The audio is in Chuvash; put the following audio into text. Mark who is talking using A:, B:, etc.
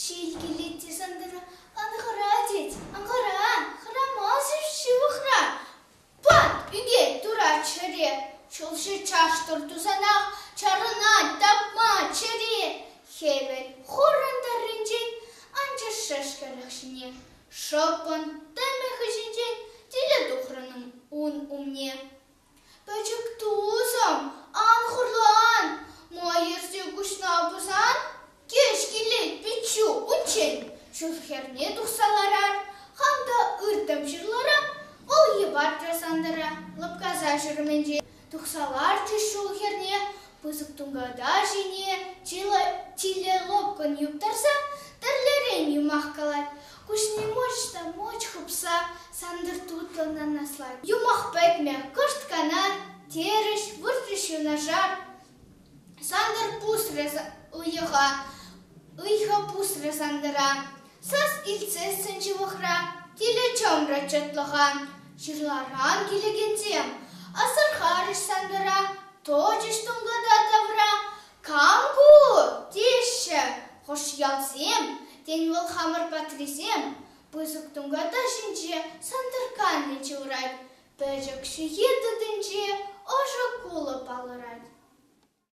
A: Ҫил килет тесен тенӗ, ӑнхӑра тет, ӑнхӑра, хӑрамасӑр ҫывӑхра. Пат ӳкет турат чӗре, ҫулҫи чаштӑр тусанах чарӑнать тапма чӗре. Хӗвел хурӑн тӑрринчен анчӑш шӗшкӗлӗх ҫине, шӑппӑн тӗмӗ хыҫӗнчен тилӗ тухрӑн ун умне. Пӗчӗк тусӑм, ан хурлан, Майӑрсем куҫна пӑсан кӗҫ килет пиччӳ унччен. Шыв хӗрне тухса ларар, хам та ыртӑм ҫырлара, вӑл йӑпарчӗ Сантӑра лӑпкаса ҫӗрменчен. Тухса ларчӗ ҫул хӗрне пысӑк тунката ҫине чилӗ лӑпкӑн юптарса тӗрлӗрен юмах калать. Куҫне-Мучта муч хыпса Сантӑр тутлӑн анаслать. Юмах пӗтмӗ, кӑшт кана, терӗҫ, выртрӗҫ юнашар. Сантӑр пусрӗ уйӑха, ыйхӑ пусрӗ Сантӑра. Сас илтсе сӗн ҫывӑхра, тилӗ чӑмрӗ чӑтлӑха. Ҫырларан килекенсем асӑрхарӗҫ Сантӑра, точӗҫ тунката тавра. Кам ку? теҫҫӗ хӑш ялсем. Тен, вӑл хамӑр патрисем? Пысӑк тунката ҫинче сӑнтӑрканни чылрать, пӗчӗк ҫыхи тытӗнче ӑшӑ кулӑ палӑрать.